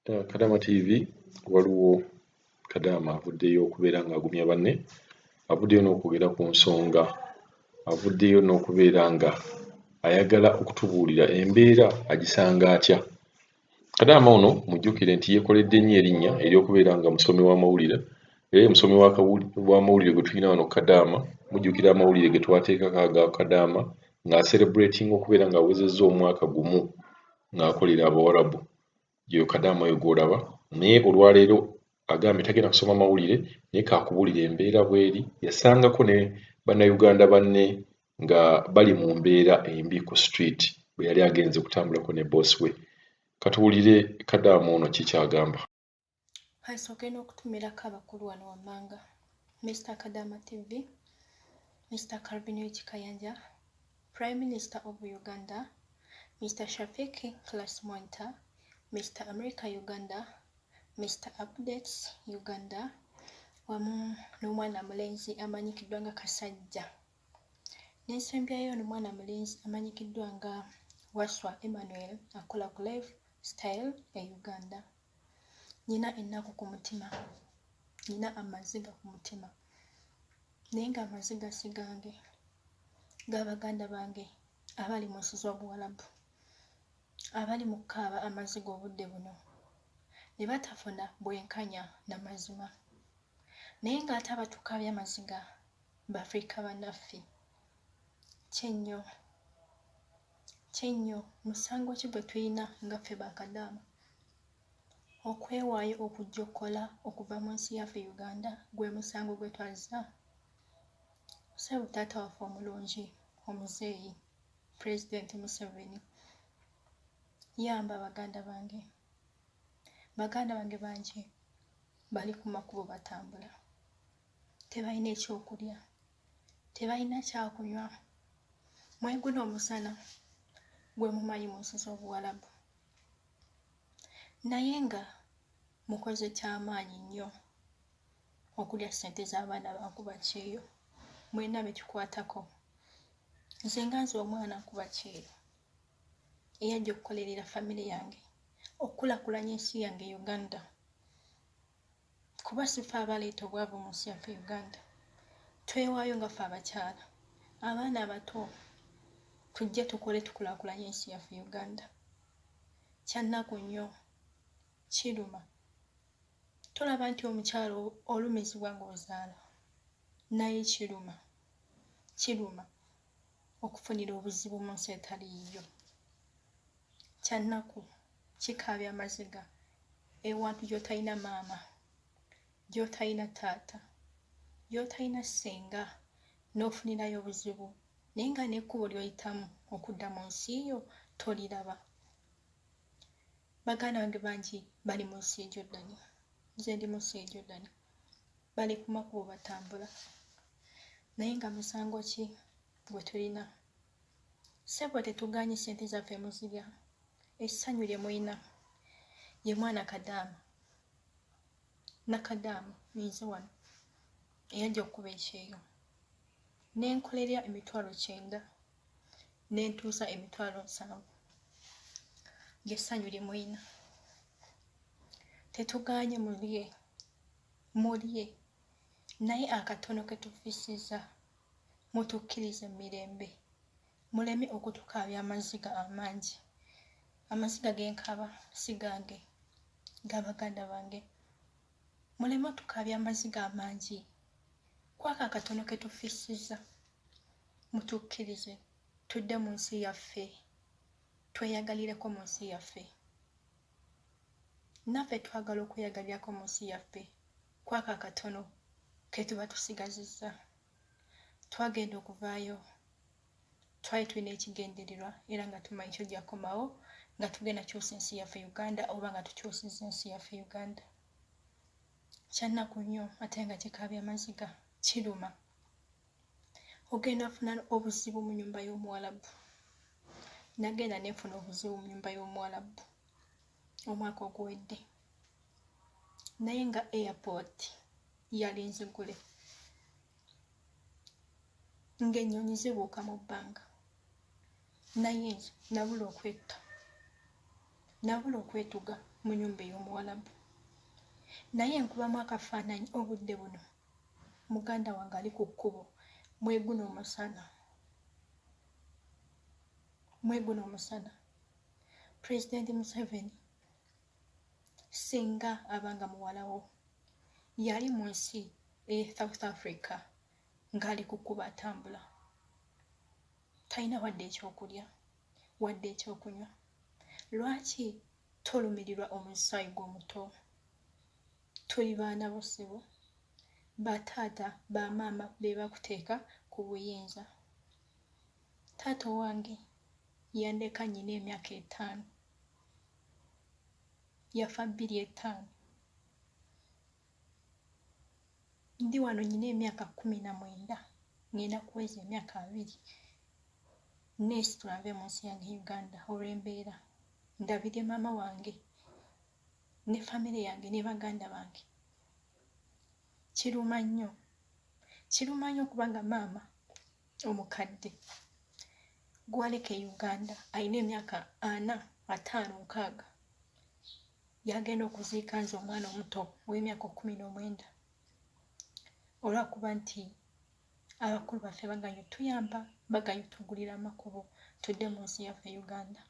Uh, Kadama TV waliwo Kadama avuddeyo okubeera ng'agumya banne, avuddeyo n'okwogera ku nsonga, avuddeyo n'okubeera nga ayagala okutubuulira embeera agisanga atya. Kadama ono mujjukire nti yeekoledde nnyo erinnya ery'okubeera nga musomi w'amawulire era ye musomi w'amawulire gwe tulina wano Kadama. Mujjukira amawulire ge twateekako aga Kadama ng'aserebratinga okubeera ng'awezezza omwaka gumu ng'akolera Abawarabu gye kadaama oyo gw'olaba naye olwaleero agambye tagenda kusoma mawulire naye kaakubulira embeera bweri yasangako ne bannayuganda banne nga bali mu mbeera embi ku street bwe yali agenze kutambulako ne boss we. Katuwulire kadaama ono ki ky'agamba. Kasooke n'okutumirako abakulu wano wammanga, Mister Kadaama TV, Mister Calvin Wiki Kayanja, Prime Minister of Uganda, Mister Shafiq Class Mwanta, Mister America Uganda, Mister Updates Uganda wamu n'omwana mulenzi amanyikiddwa nga Kasajja. N'ensembyayo ono mwana mulenzi amanyikiddwa nga Waswa Emmanuel akola ku Live Style e Uganda. Nina ennaku ku mutima, nina amaziga ku mutima naye ng'amaziga si gange, ga baganda bange abali mu nsi z'Obuwalabu abali mu kukaaba amaziga obudde buno ne batafuna bwenkanya na mazima naye ng'ate abatukaabya amaziga bafrika banaffe kyenyo kyenyo musango ki gwe tulina nga ffe bakadaama okwewaayo okujja okukola okuva mu nsi yaffe uganda gwe musango gwe twazza sebo taata waffe omulungi omuzeeyi pulezidenti museveni yamba baganda bange baganda bange bangi bali ku makubo batambula tebalina ekyokulya tebalina kyakunywa mweguno omusana gwe mumanyi mu nsi z'obuwalabu naye nga mukoze kyamaanyi nnyo okulya ssente z'abaana bankuba kyeyo mulina bekikwatako nze nga nze omwana nkuba kyeyo eyajja okukolerera famire yange okukulakulanya ensi yange uganda kuba sife abaleeta obwavu mu nsi yaffe uganda twewaayo nga ffe abakyala abaana abato tujje tukole tukulakulanye ensi yaffe uganda kyannaku nnyo kiruma tolaba nti omukyalo olumizibwa ng'ozaala naye kiruma kiruma okufunira obuzibu mu nsi etali yiyo kyannaku kikaabya amaziga ewantu gyotalina maama gyotalina taata gyotalina ssenga n'ofunirayo obuzibu naye nga n'ekkubo lyoyitamu okudda mu nsi yo toliraba baganda bange bangi bali mu nsi ejordani nze ndi mu nsi ejordani bali ku makubo batambula naye nga musango ki gwe tulina ssebo tetuganye sente zaffe muzirya essanyu lye mulina ye mwana kadaama nakadaama ninze wano eyajja okukuba ekyeyo nenkolerya emitwalo kyenda nentuusa emitwalo nsanvu lyessanyu lye mulina tetuganye mulye Mulye, naye akatono ke tufissizza, mutukkirize mu mirembe, muleme okutukaabya amaziga amangi. Amaziga ge nkaaba si gange, ga baganda bange. Muleme otukaabya amaziga amangi, ku ako akatono ke tufissizza, mutukkirize tudde mu nsi yaffe, tweyagalireko mu nsi yaffe. naffe twagala okweyagalirako mu nsi yaffe kwako akatono ke tuba tusigazizza twagenda okuvaayo twali tulina ekigendererwa era nga tumanyi kyojja kukomawo nga tugenda kyusa ensi yaffe uganda oba nga tukyusiza ensi yaffe uganda kyannaku nnyo ate nga kikaabya maziga kiruma ogenda funa obuzibu mu nyumba y'omuwalabu nagenda nenfuna obuzibu mu nyumba y'omuwalabu omwaka oguwedde naye nga airport yali nzigule ng'ennyonyi zibuuka mu bbanga naye nze nabula okwetta nabula okwetuga mu nyumba ey'omuwalabu naye nkubamu akafaananyi obudde buno Muganda wange ali ku kkubo mweguno omusana mweguno omusana pulezidenti museveni singa abanga muwalawo yali mu nsi e south africa ng'ali ku kkubo atambula talina wadde ekyokulya wadde ekyokunywa lwaki tolumirirwa omusaayi gw'omuto Tuli baana bo ssebo. Ba taata ba maama bebakuteeka ku buyinza. Taata owange yandeka nyina emyaka etaano. Yafa bbiri etaano. Ndi wano nyina emyaka kumi na mwenda ngenda kuweza emyaka abiri nesitula nve munsi yange Uganda olwembeera. Ndabire maama wange ne famire yange ne baganda bange kiruma nnyo kiruma nnyo kubanga maama omukadde gwaleka e uganda alina emyaka ana ataano nkaaga yagenda okuziika nze omwana omuto ow'emyaka kumi n'omwenda olwakuba nti abakulu baffe baganye tuyamba baganye tugulira amakubo tudde mu nsi yaffe uganda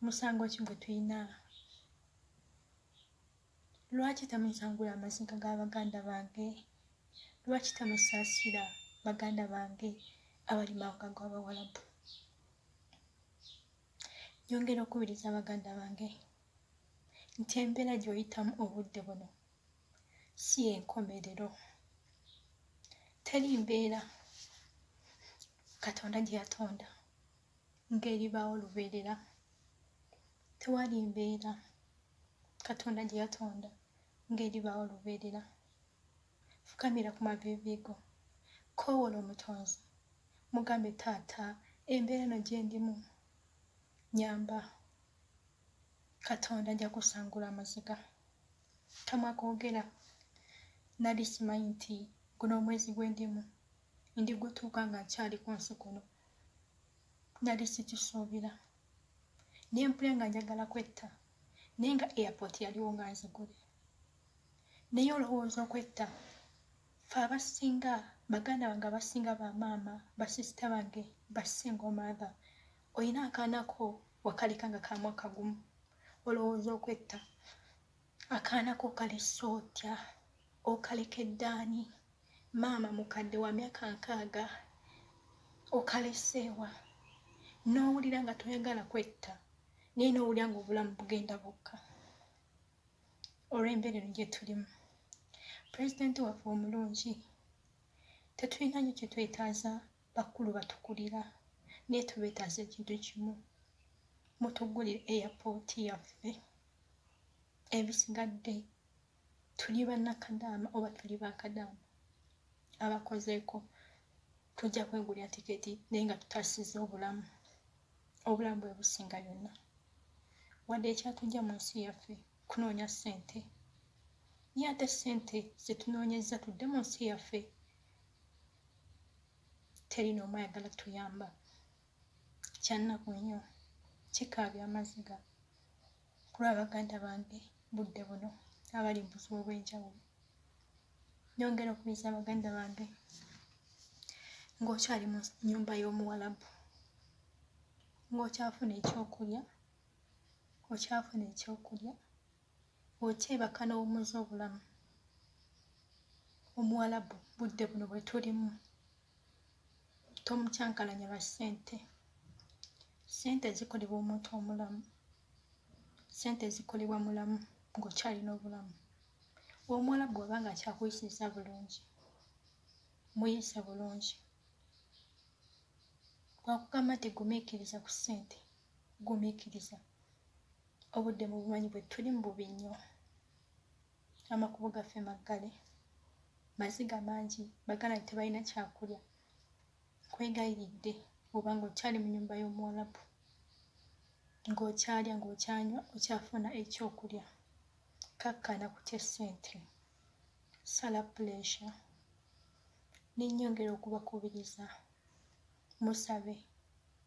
musango ki gwe tulina lwaki tamusangula amaziga ga baganda bange lwaki tamusaasira baganda bange abali mawanga g'abawalabu nyongera okubiriza baganda bange nti embeera gy'oyitamu obudde buno si enkomerero teri mbeera katonda gye yatonda ng'eribaawo lubeerera. Tewali mbeera Katonda gye yatonda ng'eribaawo lubeerera. Fukamira ku maviivi go, koowoola Omutonzi, mugambe, Taata, embeera eno gye ndimu, nyamba. Katonda ajja kusangula amaziga. Kamwa koogera. Nali simanyi nti guno omwezi gwe ndimu. ndigutuuka nga nkyali ku nsi kuno nali sikisuubira naye mpule nga njagala kwetta naye nga airport yaliwo nga nzigule naye olowooza okwetta fe abasinga baganda bange abasinga bamaama basisita bange basinga omaatha olina akaanako wakaleka nga kamwaka gumu olowooza okwetta akaana ko kalese otya okalekedde ani maama mukadde wa myaka nkaaga okaleseewa n'owulira nga toyagala kwetta naye n'owulira nga obulamu bugenda bukka olw'embeera eno gye tulimu pulezidenti waffe omulungi tetulina nyo kye twetaaza bakulu batukulira naye tubeetaaza ekintu kimu mutugulire eyapooti yaffe ebisigadde tuli bannakadaama oba tuli bakadaama abakozeeko tujja kwegulira tiketi naye nga tutasiza obulamu obulamu bwe businga yonna wadde ekyatujja mu nsi yaffe kunoonya ssente naye ate ssente zetunoonyezza tudde mu nsi yaffe teri noomu ayagala tuyamba kyannaku nnyo kikaabya amaziga kulwa baganda bange budde buno abali mu buzibu obw'enjawulo nyongera okuyisa baganda bange ng'okyali mu nnyumba y'omuwalabu ng'okyafuna ekyokulya okyafuna ekyokulya okyebaka n'owummuza obulamu omuwalabu budde buno bwe tulimu tomukyankalanya lwa ssente ssente zikolebwa omuntu omulamu ssente zikolebwa mulamu ng'okyalina obulamu omuwala bw'oba nga akyakuyisiza bulungi muyise bulungi wakugamba nti gumiikiriza ku ssente gumiikiriza obudde mu bumanyi bwe tuli mu bubi nnyo amakubo gaffe maggale maziga mangi bagala nti tebalina kyakulya nkwegayiridde oba ng'okyali mu nyumba y'omuwalabu ng'okyalya ng'okyanywa okyafuna ekyokulya kakkana kutya ssente sala puleesha nenyongera okubakubiriza musabe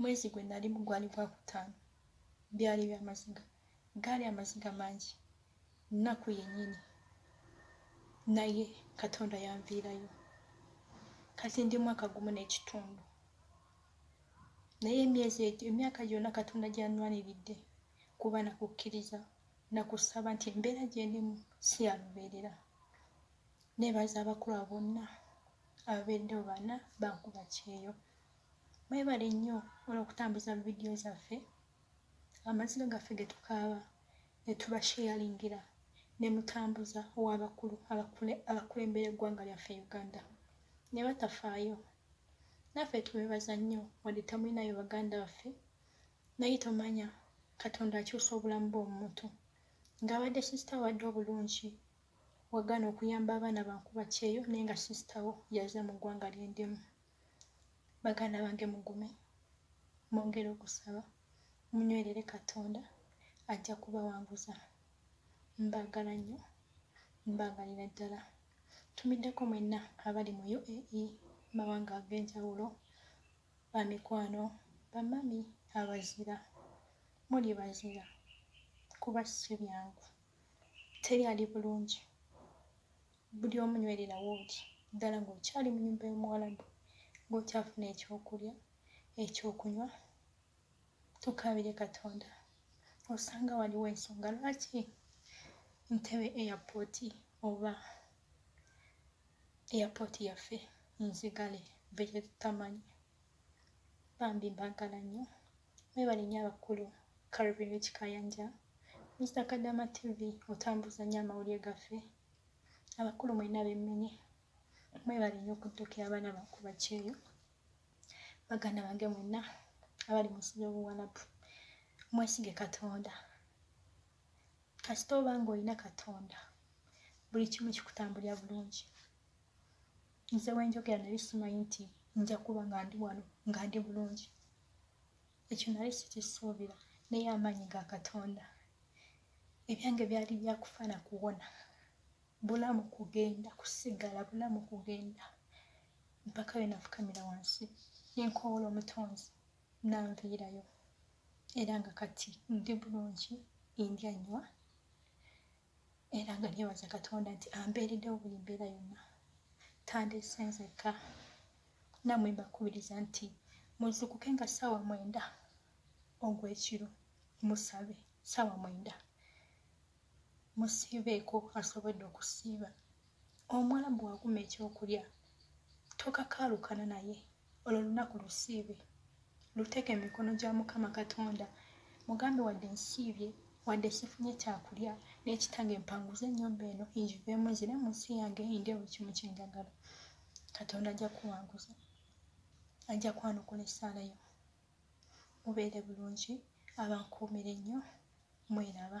mwezi gwe nalimu gwali gwa kutaano byali byamaziga gaali amaziga mangi nnaku yennyini naye katonda yanviirayo kati ndi mwaka gumu n'ekitundu naye emyezi egyo emyaka gyonna katonda gyanwaniridde kuba nakukkiriza nakusaba nti embeera gyendimu si yalubeerera nebaza abakulwa bonna ababeereddewo bana bankuba kyeyo mwebale nnyo olwokutambuza mu vidiyo zaffe amaziga gaffe getukaaba netubasheyalingira nemutambuza owabakulu abakulembera eggwanga lyaffe uganda ne batafaayo naffe tubebaza nnyo wadde tamulinayo baganda baffe naye tomanya katonda akyusa obulamu bwomuntu ng'abadde sisita wadde obulungi wagana okuyamba abaana bankuba kyeyo naye nga sister wo yaze mu ggwanga lyendimu baganda bange mugume mwongere okusaba munywerere katonda ajja kubawanguza mbagala nnyo mbagalira ddala tumiddeko mwenna abali mu uae mawanga ag'enjawulo bamikwano bamami abazira muli bazira kuba si byangu teri ali bulungi buli omu nywererawo oli ddala ng'okyali mu nyumba y'omuwalabu ng'okyafuna ekyokulya ekyokunywa tukaabire katonda osanga waliwo ensonga lwaki ntebe airport oba airport yaffe nzigale beyetutamanyi bambi mbagala nnyo Mwebale nnyo abakulu Calvin Rich Kayanja, Mister Kadama TV otambuza nnyo amawulire gaffe. Abakulu mwenna bemmenye mwebale nnyo okuddukira abaana ba ku bakyeyo. Baganda bange mwenna abali mu nsi y'obuwalabu mwesige Katonda. Kasita oba ng'olina Katonda buli kimu kikutambulira bulungi. nze wenjogera nali simanyi nti nja kuba nga ndi wano nga ndi bulungi ekyo nali sikisuubira naye amaanyi ga katonda ebyange byali byakufa na kuwona bulamu kugenda kusigala bulamu kugenda mpaka we nafukamira wansi nenkowoola omutonzi nanviirayo era nga kati ndi bulungi indya nywa era nga nebaza katonda nti ambeereddewo buli mbeera yonna tandiise nzekka namwe mbakubiriza nti muzukuke nga ssaawa mwenda ogw'ekiro musabe ssaawa mwenda musiibeeko asobodde okusiiba omuwalabu waguma ekyokulya tokakaalukana naye olwo lunaku lusiibe luteeke emikono gya mukama katonda mugambe wadde nsiibye wadde sifunye kyakulya naye kitange mpanguze ennyumba eno enjiveemu nzire mu nsi yange eyinde buli kimu kyenjagala katonda ajja kuwanguza ajja kwanukula essaala yo mubeere bulungi abankuumire nnyo mweraba